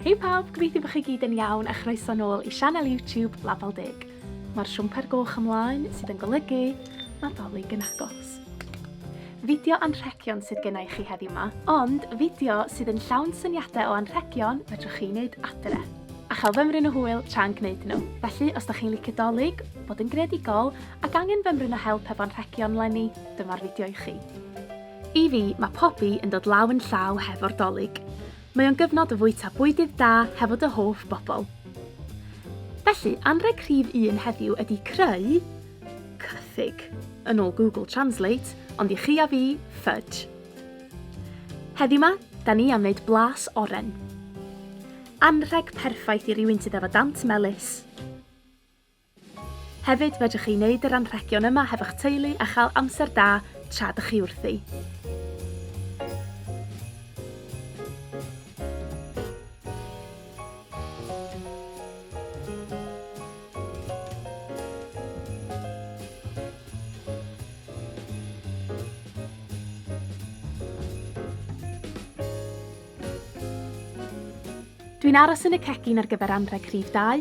Hei pawb, gobeithio bod chi gyd yn iawn a chroeso nôl i sianel YouTube Label Deg. Mae'r siwmper goch ymlaen sydd yn golygu Nadolig yn agos. Fideo anrhegion sydd gennau chi heddiw yma, ond fideo sydd yn llawn syniadau o anrhegion fedrwch chi wneud adre a chael fymryn o hwyl tra'n gwneud nhw. Felly, os da chi'n licio dolyg, bod yn greadigol ac angen fymryn o help efo anrhegion lenni, dyma'r fideo i chi. I fi, mae Pobi yn dod law yn llaw hefo'r dolyg. Mae o'n gyfnod o fwyta bwydydd da hefo dy hoff bobl. Felly, anrheg rhif un heddiw ydy creu cythig, yn ôl Google Translate, ond i chi a fi, fudge. Heddiw ma, da ni am wneud blas oren. Anrheg perffaith i rywun sydd efo dant melys. Hefyd, fedrwch chi wneud yr anrhegion yma hefo'ch teulu a chael amser da tra dych chi wrthi. Dwi'n aros yn y cegin ar gyfer anrheg rhif dau.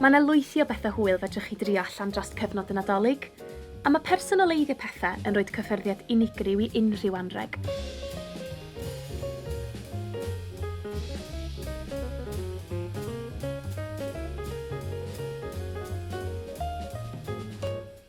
Mae yna lwythi o bethau hwyl fedrwch chi drio allan dros cyfnod y Nadolig, a mae personoleiddio pethau yn rhoid cyffyrddiad unigryw i unrhyw anrheg.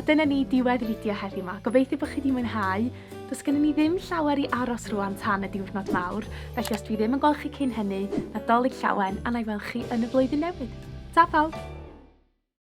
A dyna ni, diwedd fideo heddiw 'ma. Gobeithio bod chi wedi mwynhau. Does gennym ni ddim llawer i aros rwan tan y diwrnod mawr, felly os dwi ddim yn gweld chi cyn hynny, Nadolig llawen, a na i weld chi yn y flwyddyn newydd. Ta pawb!